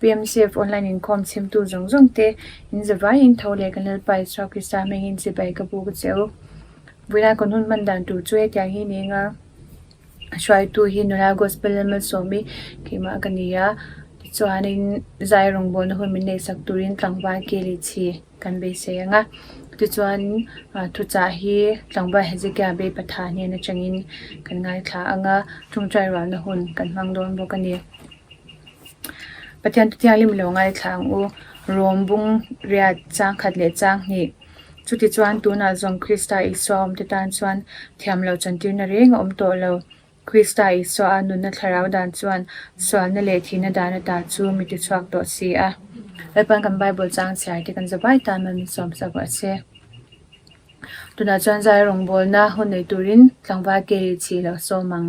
PMCF online inkhawm chhimtu zawng zawng te in za vai in tho leh kan Lalpa Isua Krista a mengin chibai ka bu ka che u. Vawilai kawn hun man dan tur chu hetiang hi ni eng a, a hruaitu hi nula Gospel Lama sawmi keimah ka ni a, tichuanin zai rawngbawlna hun min neihsak turin tlangval ke leh chhi. kan beisei ang a, tichuan thuchah hi tlangval Hezekiah beipatha hnen atangin kan ngaithla ang a, ṭawngṭai ruahna hun kan hmang dawn bawk a ni. Pathian Tutiang Lim lo ngaithla ang u, Rom bung riat changkhat leh changhnih, chutichuan tunah zawm Krista Isua awmte tan chuan thiamloh chantirna reng a awm tawh lo. Krista Isuaha nunna thlarau dan chuan sualna leh thihna dan ata chu mi ti chhuak tawh si a. Hepan kan Bible chang chhiar te kan za bai tan man min sawm sa vah se. Tunah chuan zai rawngbawlna haw nei turin tlangval ke ri chhi loh sawm ang.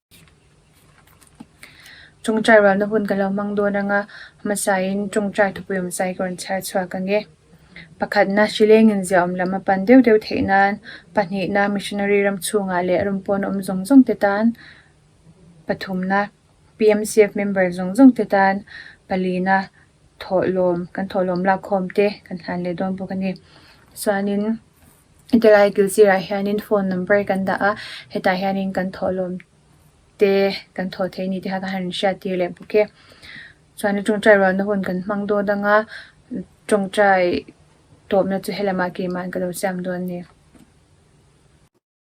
Tawngtai rualna hun ka lo hmang dawn anga hmasain tawngtai thupuiawm zai ka rawn chhiar chhuak ange. Pakhatna, Hrilengin ziaawm lam a pan deuh deuh theih nan pahnihna, Missionary ram chhungah leh ram pawn awm zawng zawng te tan pathumna, PMCF member zawng zawng te tan palina thawhlawm, kan thawhlawm lakkhawm te kan hlan leh dawn bawk a ni. Tichuanin. Tilai kil sirah hianin phone number kan dah a, hetah hianin kan thawhlawm te, kan thaw theih ni te kha kan han hriat tir leh bawk e. Chuan a tawngtai ruahna hun kan hmang dâwn dang a, tawngtai tawpna chu helamah kei mân ka lo siam dâwn a ni.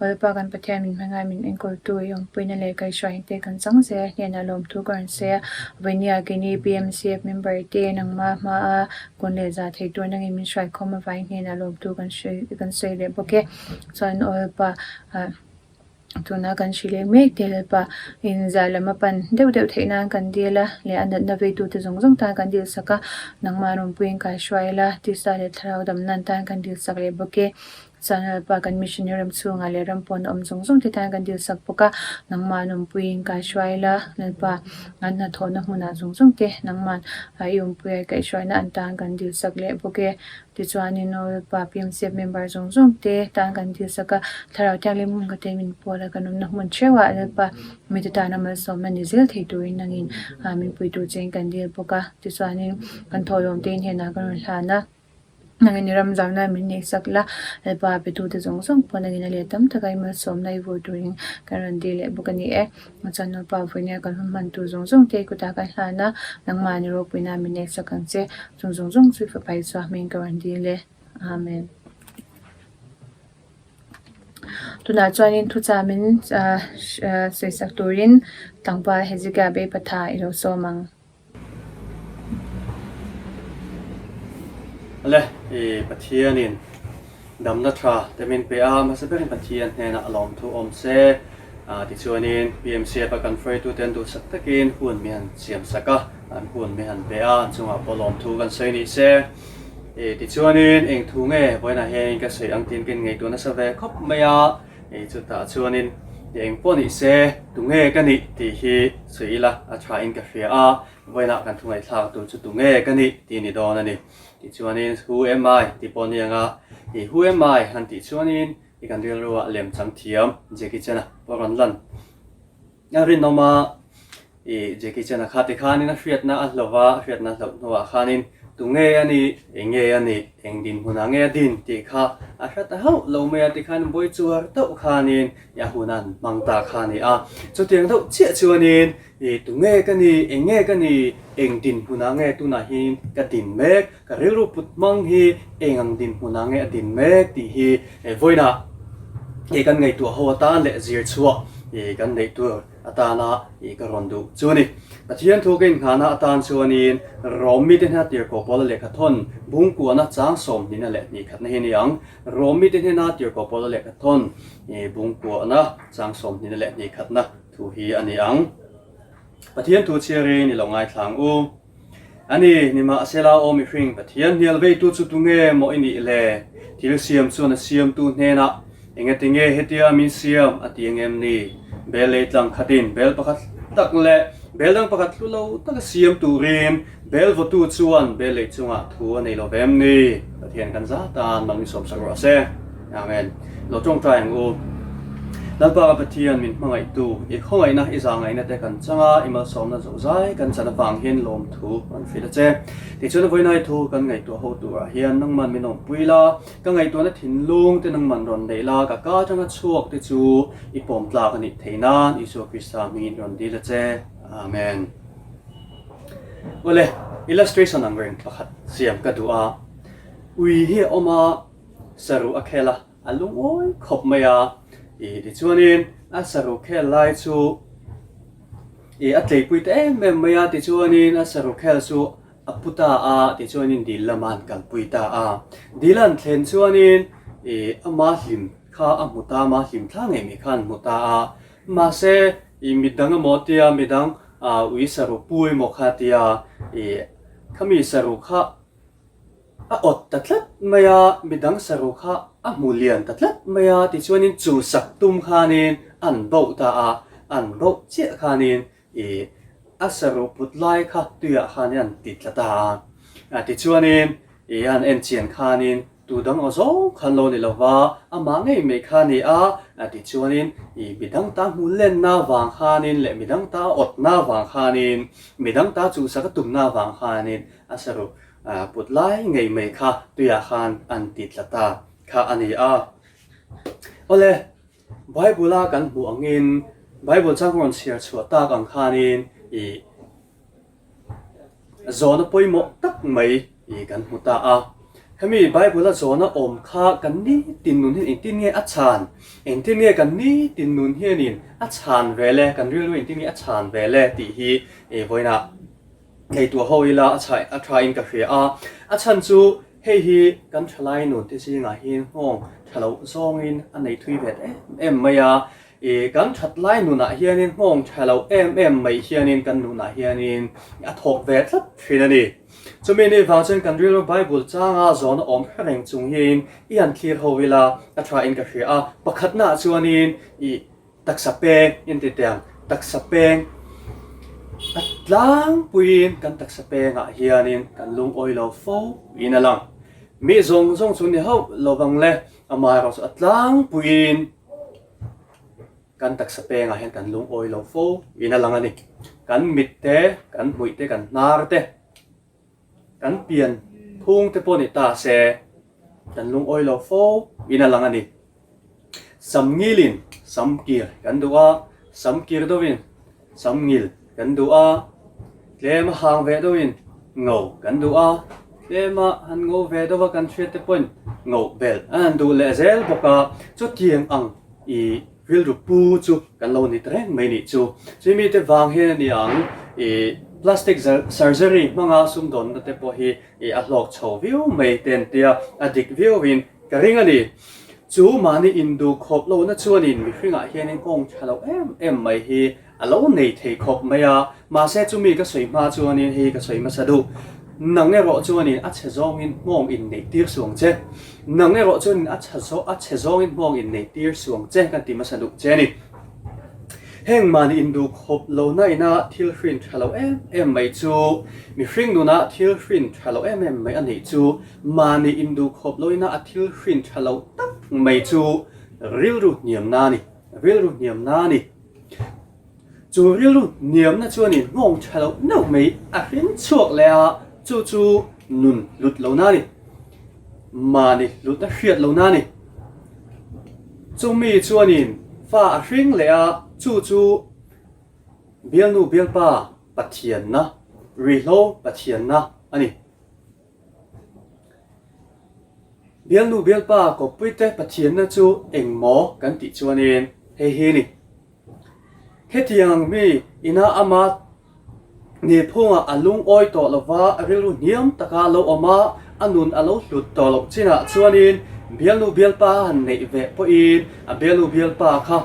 Awle pa kan Pathian min hmangaih a min enkawntu i awmpuina leh kaihruahin te kan chang zela hnenah lawmthu ka rawn sawi a, vawiin i âge ni BMCF member te nangma hmaa kawn leh zah theih tur nangin min hruaikhawm avangin hnenah lawmtu kan sawi leh bawk e. Chuan aw hepa ah tuna kan hrilh leh mek te hepa in zah lam a pan deuh deuh theih nan kan dil a leh a natna vei tu te zawng zawng tan kan dil sak a nangma rawn pui in kai hruai la tisa leh thlarau dam nan tan kan dil sak leh bawk e chuan aw hepa kan mission i ram chhung ah leh ram pawn a awm zawng zawng te tan kan dil sak bawk a nangma an awm pui in kai hruai la aw hepa an hnathawh na hmun ah zawng zawng te nangma ah i awm pui a i kaih hruai na an tan kan dil sak leh bawk e. Tichuanin Nupa PMCF member zawng zawng te tan kan dil sak a, Thlarau Thianghlim Hmumka tein min pual a, kan awmna hmun theuhah Lalpa mite tana malsawmna ni zel thei turin angin min pui tur chein kan dil bawk a, tichuanin kan thawhlawm tein henah kan rawn hlan a, angin i ram zau nan min nei sak la, Lalpa petute zawng zawng pawn angin a leh tam taka i malsawmna i vur turin kan rawn dil leh bawk a ni e. Machan nupa vawi nen kan hun hman tur zawng zawng te i kutah kan hlan a, nangmah ni ropui na min next ang che, chung zawng zawng chu i fapa Isua hming ka rawn ding le. Amen. Tunah chuanin thucham in sawisak turin tlangval Hezekiah beipatha i lo sawm ang. Le i Pathianin damna tha te min pe a, mahse berin Pathian hnenah a lawm thu awm se. Tichuanin PMCF a kan hruaitute an duhsak takin hun mi han siamsak a, an hun mi han pe a, an chungah pawh lawm thu kan sawi ni se. Tichuanin eng thu nge vawiinah hianin ka sawi ang tiin ka inngeitur nasa ve khawp mai a. Hei chutah chuanin, I eng pawh nih se, tunge ka nih tih hi sawi ila a tha in ka hria a, vawiinah kan thungaithlak tur chu tunge ka nih tih ni dawn a ni. Tichuanin, Who am I? tih pawh ni ang a, hei Who am I? han tih chuanin i kan rilruah lem chang thiam Jackie Chan-a pawh rawn lan. A rinawm a, i Jackie Chan-a khate khanin a hriatna a hlauh va, a hriatna hlauh hnuah khanin tunge a ni, enge a ni, eng dinhmunah nge a din tih kha a hre ta hauh lo mai a tikhan buai chuar deuh khanin i a hun a han hmang ta kha a ni a. Chutiang deuh chiah chuanin i tunge ka ni, enge ka ni, eng dinhmunah nge tunah hianin ka din mek, Ka rilru put hmang hi eng ang dinhmun ah nge a din mek tih hi vawiina i kan ngaihtuah ho atan leh zirchhuah i kan neih tur atana i ka rawn duh chu a ni. Pathian thu ka inhnahna atan chuanin Rome mite hnena tirhkoh pawla lehkha thawn bung kuahna chang sawmhnihna leh hnikkhatna hi a ni ang. Rome mite hnena tirhkoh pawla lehkha thawn i bung kuahna chang sawmhnihna leh hnikkhatna thu hi a ni ang. Pathian thu chhiarin i lo ngaithlang u. A ni, nimahsela aw mihring, Pathian hnialveitu chu tu nge maw i nih le? Thil siam chuan a siamtu hnenah, Enge tinge hetia min siam? a ti ang em ni? Bel lei tlang khatin bel pakhat tak leh bel dang pakhat hlu lo taka siam turin bel vawtu chuan bel lei chungah thu a nei lo ve em ni? Pathian kan zat tan lo ni sawmsak rawh a se. Amen. Lo tawngtai ang u. Lalpa ka Pathian, min hmangaihtu, i khawngaihna, i zangaihna te kan changa i malsawmna zohzai kan chan avangin lawmthu kan hrilh a che. Tichuan a vawiinai thu kan ngaihtuah ho turah hian nangman min awmpui la, ka ngaihtuahna thinlung te nangman rawn neih la, ka kal tanga chhuak te chu i pawm tlak a nih theih nan Isua Krista hmingin rawn dil a che. Amen. Awle, illustration ang reng pakhat siam ka duh a, ui hi a awm a, saru a khel a, a lungawi khawp mai a, ih tichuanin a saru khel lai chu ih a tleipui ta em em mai a, tichuanin a saru khel chu a pu ta a, tichuanin dil lama an kalpui ta a, dil a an thlen chuanin ih a ma hlim kha a hmu ta, ma hlim thla ngei mai kha an hmu ta a, mahse ih mi dang emaw a tia, mi dang ui saru pu emaw kha a tia, ih khami saru kha. A awt ta tlat mai a, mi dang saru kha a hmu lian ta tlat mai a, tichuanin chu sak tum khanin an bauh ta a, an bauh chiah khanin ih a saru put lai kha tuiah khanin an ti tla ta a, a tichuanin ih an en chian khanin tu dang aw zawng khan lo ni lova, amah ngei mai kha ni a, a tichuanin ih mi dang ta hmu lenna vang khanin leh mi dang ta a awtna vang khanin, mi dang ta chu sak a tumna vang khanin a saru A put lai ngei mai kha tuiah khan an ti tla ta kha a ni a. Awle, Bible-a kan hmuh angin Bible chang rawn chhiar chhuah tak ang khanin i zawhna pawimawh tak mai i kan hmu ta a. Hemi Bible-a zawhna awm kha kan ni tin nun hian engtin nge a chhan? Engtin nge kan ni tin nun hianin a chhan ve le? Kan rilru engtin nge a chhan ve le? Tih hi vawiinah, Ngaihtuah ho ila a chhai a thain ka hria a, a chhan chu hei hi kan thalai nun te zingah hian nghawng tha lo zawngin a nei thui ve ta em em mai a, i kan that lai nunah hianin nghawng tha lo em em mai hianin kan nunah hianin a thawk ve tlat thin a ni. Chumi ni vang chuan kan rilru Bible changa zawn a awm hre reng chung hian i han thlir ho ila a thain ka hria a, pakhatnaah chuanin i Taksa peng intite ang, taksa peng a tlangpuiin kan taksa pengah hianin kan lungawi lo fo in a lang. Mi zawng zawng chu ni hauh lovang le amah erawh chu a tlangpuiin kan taksa pengah hian kan lungawi lo fo in a lang a ni. Kan mit te, kan hmuih te, kan hnar te Kan pian phung te pawh ni ta se kan lungawi lo fo in a lang a ni. Sam ngil in sam kir kan duh a, sam kir deuh in sam ngil kan duh a, tlem a hang ve deuh in ngo kan duh a, tlem a han ngo ve deuh a kan hriat te pawhin ngo belh an han duh leh zel bawk a, chutiang ang i. Rilru pu chu kan lo nit reng mai nih chu. Chu mi te vang hian a ni ang i plastic surgery hmanga sumdawnna te pawh hi i a hlawk chho viau mai te an tia a dik viauin ka ring a ni. Chu mahni induk khawp lohna chuanin mihringah hianin awngṭha loh em em mai hi A lo nei thei khawp mai a, mahse chumi ka sawi hma chuanin hei ka sawi hmasa duh, nang erawh chuanin a chhe zawngin hmawng inneih tir suang che, nang erawh chuanin a chha zawng a chhe zawngin hmawng inneih tir suang che kan ti hmasa duh che a ni. Heng mahni induh khawp lo naina thil hrin tha lo em em mai chu, mihring nuna thil hrin tha lo em em mai a neih chu, mahni induh khawp loina a thil hrin tha lo tak mai chu rilru hniamna a ni, rilru hniamna a ni. Chu rilru niamna chuan in nghawng tha loh neuh mai a hring chhuak leh a, chu chu nun hlut lo na a ni, mahni hlut a hriat lo na a ni. Chumi chuan in fa a hring leh a, chu chu bialnu bialpa Pathianna, Rihlo Pathianna a ni. Bialnu bialpa Kawpuite Pathianna chu engmaw kan tih chuanin hei hi a ni. Hetiang mi ina ama ni phungah a lungawi tawh lova rilru hniam taka a lo awm a, a nun a lo hlut tawh loh chinah chuanin bialnu bialpa han neih ve pawhin a bialnu bialpa kha,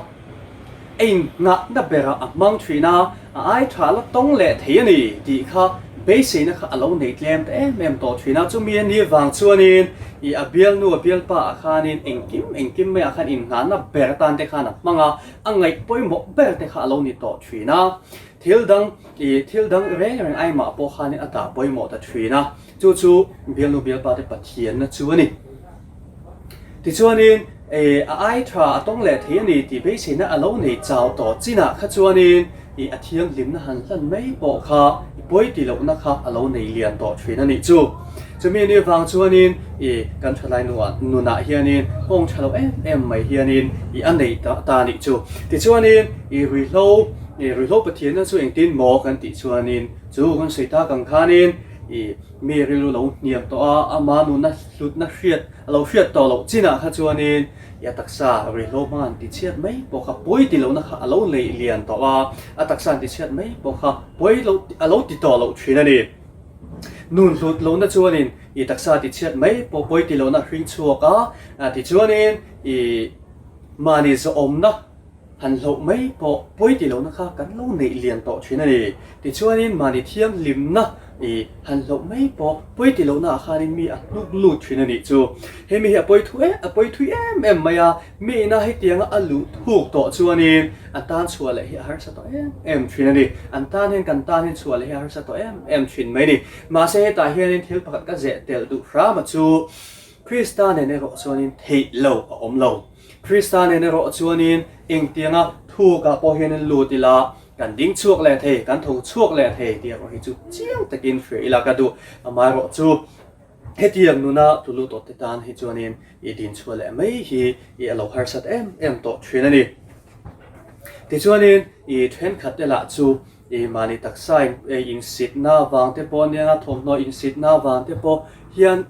Eng nghakna berah a hmang thin a, a ai tha la tawng leh thei a ni tih kha beiseina kha a lo nei tlem ta em em tawh thin a. Chumi a ni vang chuanin ih a bialnu a bialpa ah khanin engkim engkim maiah khan innghahna ber atan te khan a hmang a, a ngaih pawimawh ber te kha a lo ni tawh thin a. Thil dang ih thil dang reng reng ai mah pawh khanin a tah pawimawh ta thin a, chu chu bialnu bialpa te Pathian na chu a ni. Tichuanin, I a ai tha a tawng leh thei a ni tih beiseina a lo nei chau tawh chinah kha chuanin i a thianghlimna han hlan mai pawh kha i pawi ti lohna kha a lo nei lian tawh thin a nih chu. Chumi ni vang chuanin i kan thalai nunah hianin hawng tha loh em em mai hianin i a nei ta ta a nih chu. Tichuanin, i ruihhlo, i ruihhlo Pathianna chu engtin maw kan tih chuanin chu kan sawi tak ang khanin i. Mi ril u lo hniam tawh a, a mah nun a hlutna hriat a lo hriat tawh loh chinah kha chuanin i a taksa ruihhlo hma an ti chhiat mai pawh kha pawi ti lohna kha a lo neih lian tawh a, a taksa an ti chhiat mai pawh kha pawi lo a lo ti tawh loh thin a ni. Nun hlut lohna chuanin i taksa ti chhiat mai pawh pawi ti lohna a hring chhuak a, tichuanin i mahni zawhawmna, Han hlauh mai pawh pawi ti lohna kha kan lo neih lian tawh thin a ni. Tichuanin mahni thianghlimna i han hlauh mai pawh pawi ti lohna ah khanin mi a hnuk lut thin a nih chu. Hemi hi a pawi thu e, a pawi thui em em mai a, mi ina hetianga a luh thuk tawh chuanin a tan chhuah leh hi a harsa tawh em em thin a ni. An tan hian kan tan hian chhuah leh hi a harsa tawh em em thin mai a ni. Mahse hetah hianin thil pakhat ka zeh tel duh hram a chu, Krista nen erawh chuanin theih lo a awm lo. Krista nen erawh chuanin engtianga thukah pawh hianin lut ila, kan ding chhuak leh thei, kan tho chhuak leh thei tih erawh hi chu chiang takin hria ila ka duh. Amaherawh chu hetiang nuna thu lut awtte tan hi chuanin i din chhuah leh mai hi i a lo harsat em em tawh thin a ni. Tichuanin i thenkhat elah chu i mahni taksain insitna avangte pawh anianga thawmhnaw insitna avangte pawh hian,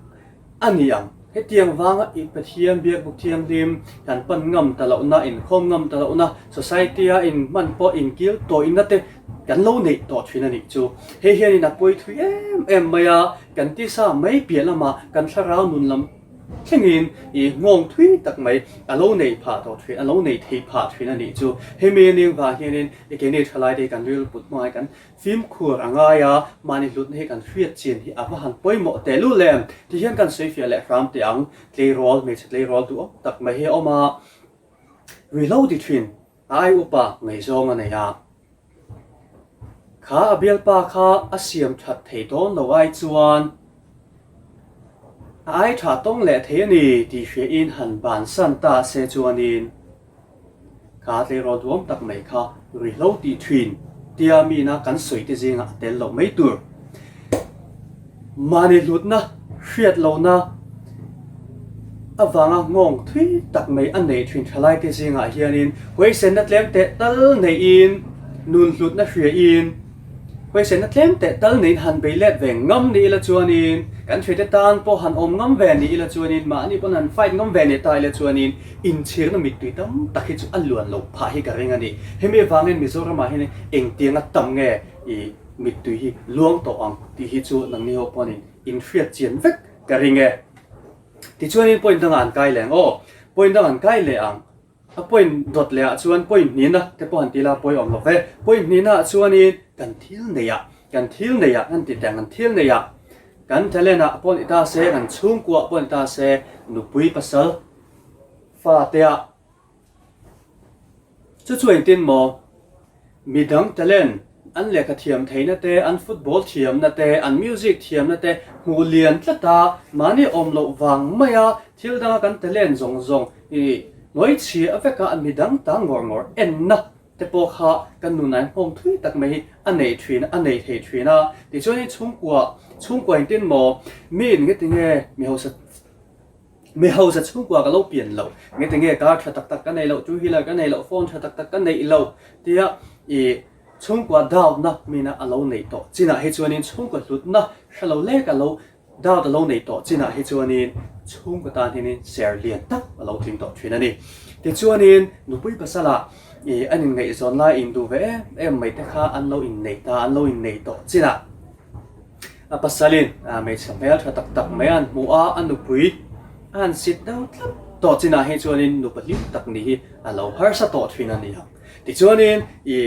A ni ang. Hetiang vanga i Pathian Biakbuk Thianghlim kan pan ngam ta lohna, inkhawm ngam ta lohna, society-a inhman pawh inkil tawihna te kan lo neih tawh thin a nih chu. Hei hianin a pawi thui em em mai a, kan tisa mai piah lama kan thlarau nun lam thlengin i nghawng thui tak mai a lo nei phah tawh thin, a lo nei thei phah thin a nih chu. Hemi a ning vang hianin eke nge thalai te kan rilru put hmangaih kan. Fimkhur a ngai a, mahni hlutna hi kan hriat chin hi a hma han pawimawh teh luh le, ti hian kan sawifiah leh hram teh ang. Tleirawl, hmeichhe tleirawl duhawk tak mai hi a awm a, ri hlo ti thin a ai up a, ngaihzawng a nei a. Kha a bialpa kha a siam that thei dawn lo ai chuan a ai tha tawng leh thei a ni tih hriain han bansan ta se chuanin, Ka tleirawl duam tak mai kha ri hlo tih thin tia mina kan sawi te zinga a tel loh mai tur mahni hlutna hriat lohna avanga ngawng thui tak mai a nei thin thalai te zinga hianin huaisenna tlem teh tal neihin nun hlutna hria in Huaisenna tlem teh tal nehin han bei let ve ngam ni ila chuanin, kan hrete tan pawh han awm ngam ve ni ila chuanin, mahni pawn han fight ngam ve ni ta ila chuanin, inchhirna mittui tam tak hi chu a luan loh phah hi ka ring a ni. Hemi avangin Mizoramah hian engtianga tam nge i mittui hi luang tawh ang tih hi chu nangni ho paonin in hriat chian vek ka ring e. Tichuanin point danga an kai leng aw, point dang an kai leh ang. A point dawt leh ah chuan point hnin a te pawh han tih la pawi awm love point hnin ah chuan in kan thil nei ah kan thil nei ah kan ti teh ang kan thil nei ah kan talent ah pawh ni ta se kan chhungkua ah pawh ni ta se nupui pasal fate ah chu chu engtin maw Mi dang talent, an lehkha thiam theihna te, an football thiamna te, an music thiamna te hmuh lian tlat a, mahni awm loh vang mai a, thil danga kan talent zawng zawng i hnuai chhia vek a, mi dang ta ngawr ngawr enna te pawh kha kan nunain nghawng thui tak mai hi a nei thin, a nei thei thin a. Tichuan in chhungkua, chhungkua in tin maw, mi in nge ti nge mi hausa Mi hoza chhungkua ka lo pian lo, ngete nge car tha tak tak ka nei lo, two wheeler ka nei lo, phone tha tak tak ka neih lo tia i chhungkua doubtna mina a lo neih tawh chinah hi chuanin chhungkaw hlutna hre lo lek a lo doubt a lo neih tawh chinah hi chuanin chhungkaw tan hianin share lian tak a lo tling tawh thin a ni. Tichuanin nupui pasala i an inngaihzawn lai induh ve em em mai te kha an lo inneih ta, an lo inneih tawh chinah, A pasalin hmeichhe hmel tha tak tak mai a an hmu a, a nupui a han sit deuh tlat tawh chinah hi chuanin nu pahlim tak nih hi a lo harsa tawh thin a ni a. Tichuanin i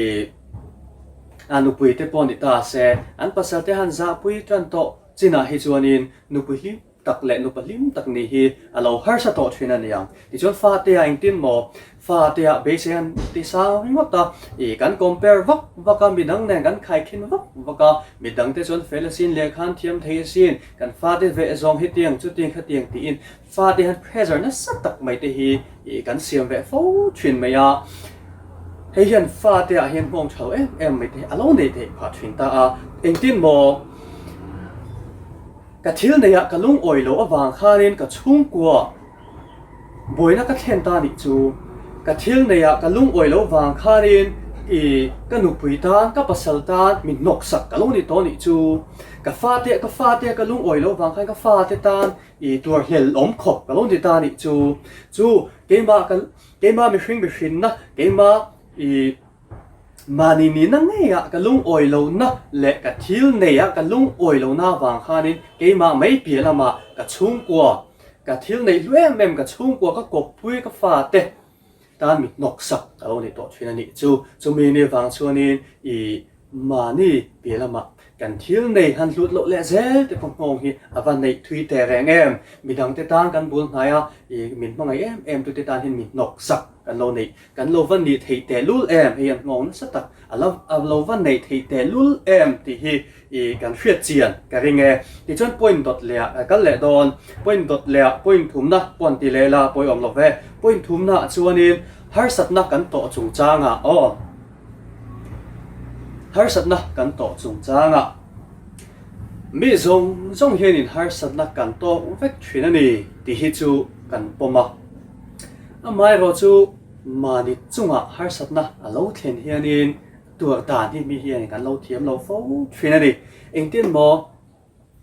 a nupui te pawh ni ta se, an pasal te han zahpui tlan tawh chinah hi chuanin nupui hlim tak leh nupa hlim tak nih hi a lo harsa tawh thin a nia. Tichuan fate a engtin maw? Fate ah beisei an ti sang ringawt a, ih kan compare vak vak a, midang nen kan khaikhin vak vak a, midang te chuan fel asin lehkhan thiam thei asin, kan fate veh zawng hi tiang chu tiang kha tiang tiin fate han pressure nasa tak mai te hi ih kan siam ve fo thin mai a, hei hian fate ah hian nghawng tho em em mai te hi a lo nei thei phah thin ta a, engtin maw? Ka thil neiah ka lungawi loh avang khanin ka chhungkua buaina ka thlen ta nih chu. Ka thil neiah ka lungawi loh vang khanin i ka nupui tan, ka pasal tan min hnawk sak ka lo ni tawh nih chu. Ka fate, ka fate ka lungawi loh vang khan ka fate tan i tuar hlel awm khawp ka lo ni ta nih chu. Chu keimah ka, keimah mihring mihrinna, keimah i Mahni nihna ngeiah ka lungawi lohna leh ka thil neiah ka lungawi lohna avang khanin keimah mai piah lamah ka chhungkua, ka thil neih hlu em em, ka chhungkua, ka kawppui, ka fate tan mi hnawksak ka lo ni tawh thin a nih chu. Chumi ni avang chuanin i mahni piah lamah kan thil nei han hlut loh leh zel te pawh nghawng hi a va neih thui teh reng em? Midangte tan kan bul hnaia i min hmangaih em em tute tanin mi hnawksak kan lo neih Kan lo va nih theih tehlul em hei an nghawng nasa tak a la a lo va neih theih tehlul em tih hi i kan hriat chian ka ring e tichuan point dawt leh ah kal leh dawn point dawt leh ah point thumna pawh an ti leh la pawh i awm lo ve point thumna ah chuanin harsatna kan tawh chung changa aw harsatna kan tawh chung changa mi zawng zawng hianin harsatna kan tawk vek thin a ni tih hi chu kan pawm a. Amaherawh chu mahni chungah harsatna a lo thlen hianin tuar dan hi mi hian kan lo thiam lo fo thin a ni. Engtin maw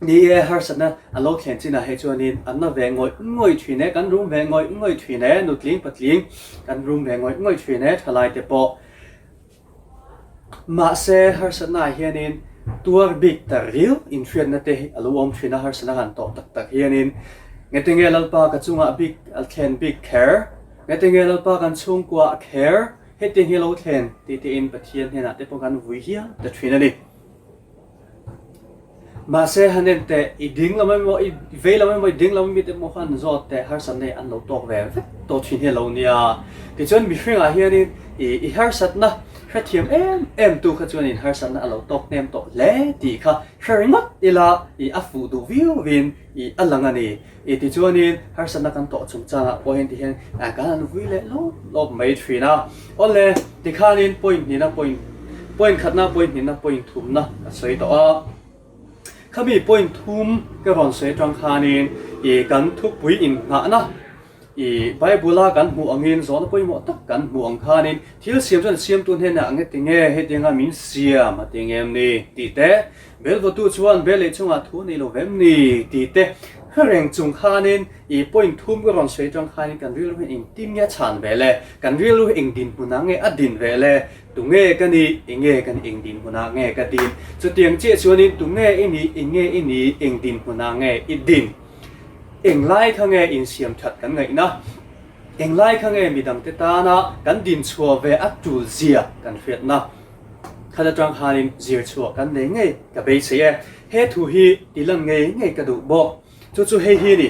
ni e harsatna a lo thlen chinah hi chuanin an la ve ngawih ngawih thin e, kan rum ve ngawih ngawih thin e, nutling patling kan rum ve ngawih ngawih thin e, thalaite pawh Mahse, harsatnaah hianin tuar bik ta ril inhriatna te hi a lo awm thin a, harsatna han tawh tak tak hianin ngete nge Lalpa ka chungah bik a thlen bik kher, ngete nge Lalpa kan chhungkua a kher, hetiang hi a lo thlen tih tein Pathian hnenah te pawh kan vui hial ta thin a ni. Mahse, han en teh, i ding lam emaw, i vei lam emaw, i ding lam mit emaw khan zawt teh harsat nei an lo tawk ve vek tawh thin hi a lo nia. Tichuan mihringah hianin i i harsatna hrethiam em em tu kha chuanin harsatna a lo tawk hnem tawh hle tih kha hre ringawt ila i a fuh duh viau vin i a lang a ni. I tichuanin harsatna kan tawh chung changah pawh heng tihian kan han vui leh lawp lawp mai thin a, aw le tikhanin point hnihna point point khatna point hnihna point thumna ka sawi tawh a, khami point thum ka rawn sawi atang khanin i kan thupui innghahna. I Bible-a kan hmuh angin zawhna pawimawh tak kan hmuh ang khanin thil siam chuan siamtu hnenah a nge ti nge hetianga min siam a ti nge em ni tih te, Belvawtu chuan bel leh chungah thu nei lo ve em ni tih te hre reng chung khanin i point thum ka rawn sawi atang khanin kan rilru hi eng tin nge a chhan ve le? Kan rilru hi eng dinhmunah nge a din ve le? Tunge ka ni? Enge ka nih eng dinhmunah nge ka din? Chutiang chiah chuanin tunge i nih? Enge i nih? Eng dinhmunah nge i din? Englai kha nge insiam that kan ngaih na? Englai kha nge midang te tana kan din chhuah ve a tul zia kan hriat na? Khan atang khanin zir chhuah kan nei ngei ka bei chei e. He thu hi ti lan ngei ngei ka duh bawk. Chu chu hei hi ni.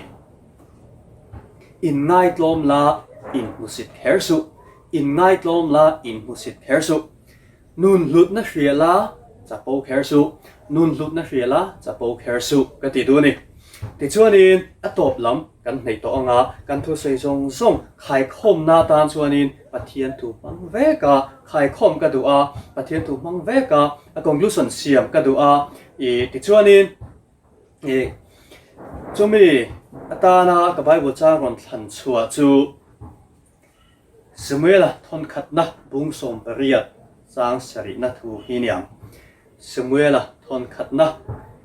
In ngai tlawm la in hmusit kher suh. In ngai tlawm la in hmusit kher suh. Nun hlutna hriala chapo kher suh, nun hlutna hriala chapo kher suh ka ti duh a ni. Tichuanin a tawp lam kan hnaih tawh anga kan thusawi zawng zawng khaikhawmna atan chuanin Pathian thu hmang veka khaikhawm ka duh a, Pathian thu hmang veka a conclusion siam ka duh a. I tichuanin i chumi atana ka Bible chang rawn thlan chhuah chu, Samuela thawnkhatna bung sawm pariat chang sarihna thu hi ni ang. Samuela thawnkhatna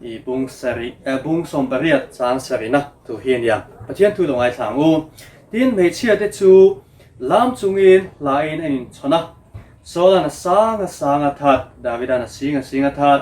i bung sarih eh bung sawm pariat chang sarihna thu hi ni ang. Pathian thu lo ngaithlang u. Tin, hmeichhia te chu lam chungin hla in an inchhawn a. Saul-a na sang a sang a that, David-a na sing a sing a that.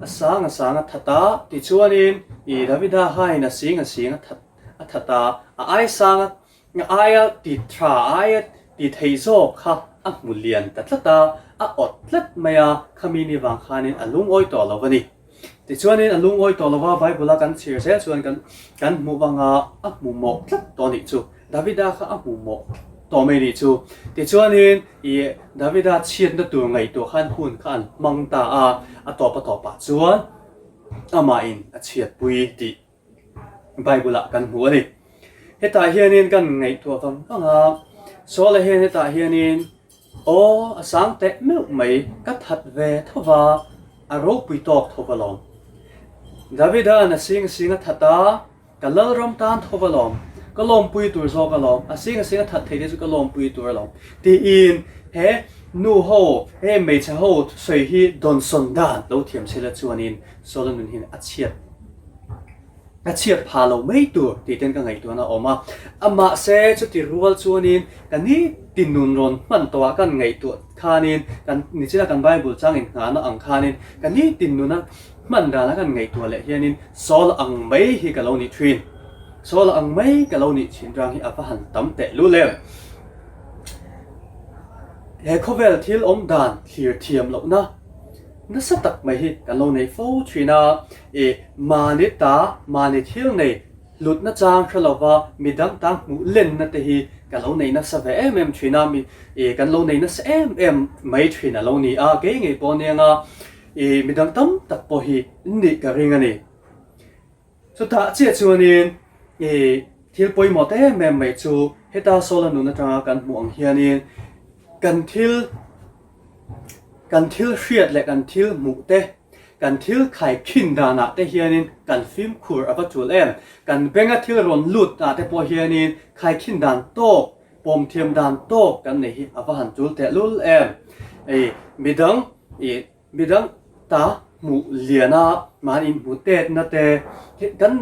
A sang a sang a that a, tichuanin i Davida hain a sing a sing a that a that a, a ai sang a a aia tit tha a aia ti thei zawk kha a hmu lian ta tlat a, a awt tlat mai a, khami ni vang khanin a lungawi tawh lo va ni. Tichuanin a lungawi tawh lo va Bible a kan chhir zel chuan kan kan hmuh vang a, a hmu mawh tlat tawh a nih chu. Davida kha a hmuh maw? Tawh mai ni chu. Tichuanin, i Davida chhiatna tur ngaihtuah khan hun kha an hmang ta a, a tawp a tawp ah chuan amahin a chhiatpui tih Bible ah kan hmu a ni. Hetah hianin kan ngaihtuah vang vang a, Saul-a hian hetah hianin, Aw a sang teh meuh mai, ka that ve tho va, a ropui tawk tho va lawm. Davida an a sing a sing a that a, ka lalram tan tho va lawm, ka lawmpui tur zawk a lawm, a sing a sing a that thei te chu ka lawmpui tur a lawm, tiin he nuho, he hmeichhe ho sawi hi dawnsawn dan lo thiam sela chuanin Solomonin a chhiat. Ka chhiat pha lo mai tur tih ten ka ngaihtuahna a awm a, mahse chuti rual chuanin ka ni tinun rawn hman tawh a kan ngaihtuah khanin kan nichina kan Bible chang innghahna ang khanin ka ni tinuna hman dan a kan ngaihtuah leh hianin sawl ang mai hi ka lo nih thin sawl ang mai ka lo nih thin rang hi a va han tam teh luh lem. He khawvel thil awm dan thlir thiam lohna nasa tak mai hi kan lo nei fo thin a. E. Mahni ta, mahni thil nei hlutna chang hre lova mi dang tang hmuh lenna te hi ka lo nei nasa ve em em thin a, mi e kan lo nei nasa em em mai thin a lo ni a, kei ngei pawh anianga e mi dang tam tak pawh hi in nih ka ring a ni. Chutah chiah chuanin e thil pawimawh ta em em mai chu heta Sawl a nun atanga kan hmuh ang hianin kan thil kan thil hriat leh kan thil hmuh te, Kan thil khai khin danah te hianin kan fimkhur a va tul em? Kan benga thil rawn lut ah te pawh hianin khai khin dan tawk, pawm thiam dan tawk kan nei hi a va han tul tehlul em? I midang i midang ta hmuh liana mahni inhmuhtetna te, kan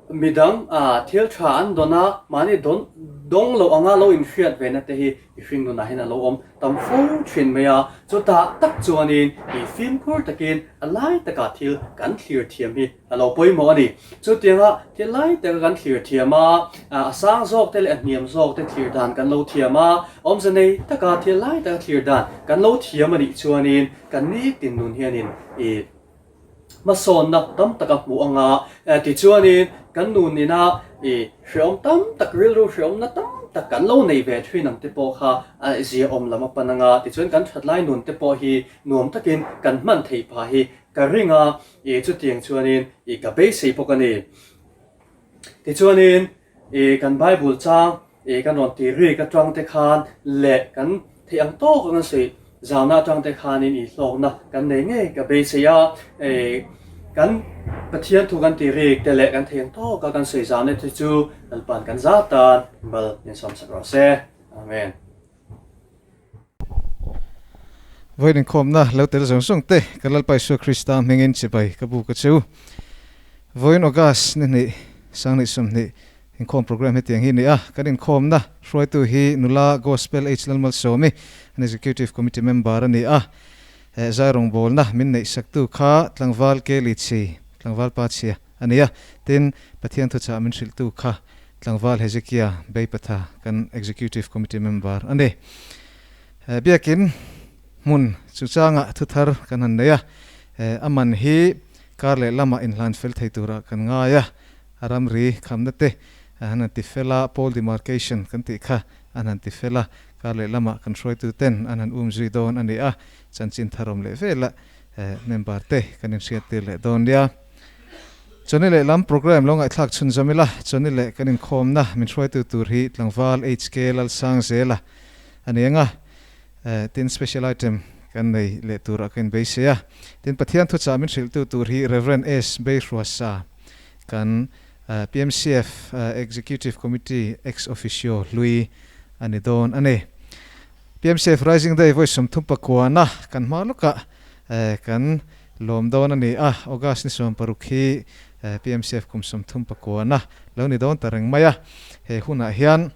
midang thil tha an dawn a mahni dawn dawng loh anga lo inhriat ve na te hi I fim runah hian a lo awm tam fo thin mai a, chutah tak chuanin i fim khur takin a lai takah thil kan thlir thiam hi a lo pawimawh a ni. Chutianga thil lai taka kan thlir thiam a, a sang zawkte leh a hniam zawkte thlir dan kan lo thiam a, awmze nei taka thil lai taka thlir dan kan lo thiam a nih chuanin kan ni tinlun hianin i. hmasawnna tam tak a hmuh a nga tichuanin kan nu nina i hreawm tam tak rilru hreawmna tam tak kan lo nei ve thin ang te pawh kha a zia awm lam a pan a nga tichuan kan that lai nun te pawh hi nuam takin kan hman thei pha hi ka ring a i chutiang chuanin i ka beisei bawk a ni. Tichuanin i kan Bible chang i kan rawn ti rîk aṭang te khan leh kan theih ang tâwk anga sawi zâwna aṭang te khanin i hlâwkna kan nei ngei ka beisei a. I kan Pathian thu kan ti rîk te leh kan theih ang tâwka kan sawi zâwna te chu Lalpa'n kan zâwt tan bal min sawmsak rawh se. Amen. Vawiin inkhawmna lo tel zawng zawng te ka Lalpa Isua Krista hmingin chibai ka bu ka chu. Vawiin August nihnih sanghnih sawmhnih inkhawm program hi tiang hi nia, kan inkhawmna hruaitu hi nula Gospel H. Lalmalsawmi, an Executive Committee member a nia. Zairawng bawlna min neihsaktu kha Tlangval Kelly Chhi, Tlangvalpa Chhia, A nia. Tin, Pathian thuchah min hrilhtu kha tlangval Hezekiah beipatha kan Executive Committee member a ni. Eh, biakin hmun chu changah thuthar kan han nei a, eh, a man hi kar leh lama inhlanfel thei tura kan ngai a, a ramri khamna te han han ti fel a, pole demarcation kan tih kha an han ti fel a, kar leh lama kan hruaitu ten an han um zui dawn a ni a, chanchin tharawm leh vela, eh, member te kan inhriat tir leh dawn nia. Chawni leh lam programme lo ngaihthlak chhunzawm ila chawni leh kan inkhawmna min hruaitu tur hi tlangval HK Lalsangzela a ni anga tin special item kan nei leh tur a kan inbei se a. Tin Pathian thuchah min hrilhtu tur hi Rev. S. Beihruasa kan PMCF Executive Committee ex officio hlui a ni dawn a ni. PMCF Rising Day vawi sum thum pakuana kan hma lawka kan lawm dawn a ni a, August ni sawm paruk hi PMCF kum sum thum pakuana lo ni dawn ta reng mai a, he hunah hian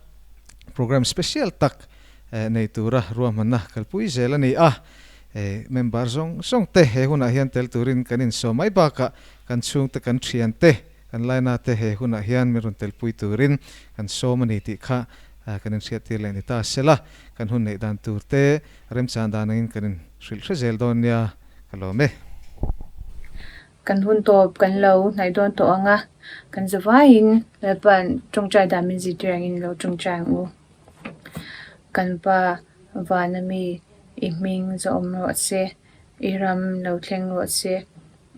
programme special tak nei tura ruahmanna kalpui zel a ni a, member zawng zawng te he hunah hian tel turin kan insawm mai bakah kan chhungte kan thiante, Kan Lainate he hunah hian min rawn telpui turin kan sawm a ni tih kha kan inhriattir leh ni ta a sela, kan hun neih dan turte remchang dan angin kan inhrilh hre zel dawn nia ka lawm e. Kan hun tawp kan lo hnaih dawn tawh ang a, kan za vaiin Lalpa tawngtai dan min zihtir angin lo tawngtai ang u. Kan pa Vanami i hming za awm rawh se. I ram lo thleng rawh se,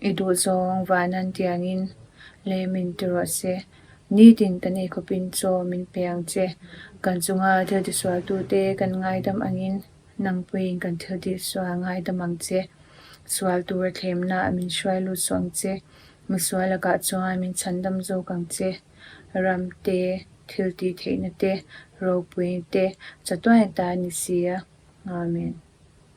i duh zawng van an ti ang in lei min ti rawh se. Nitin kan ei khawp in chaw min pe ang che. Kan chunga thil tisualtu te kan ngaidam ang in nangpui in kan thil tisual ngaidam ang che. Sual tura thlemna ah min hruai lut suh ang che. Misual lakah chuan min chhan dam zawk ang che. Ram te, thil ti theihna te, ropui te chatuai ang ta ni si a. Amen.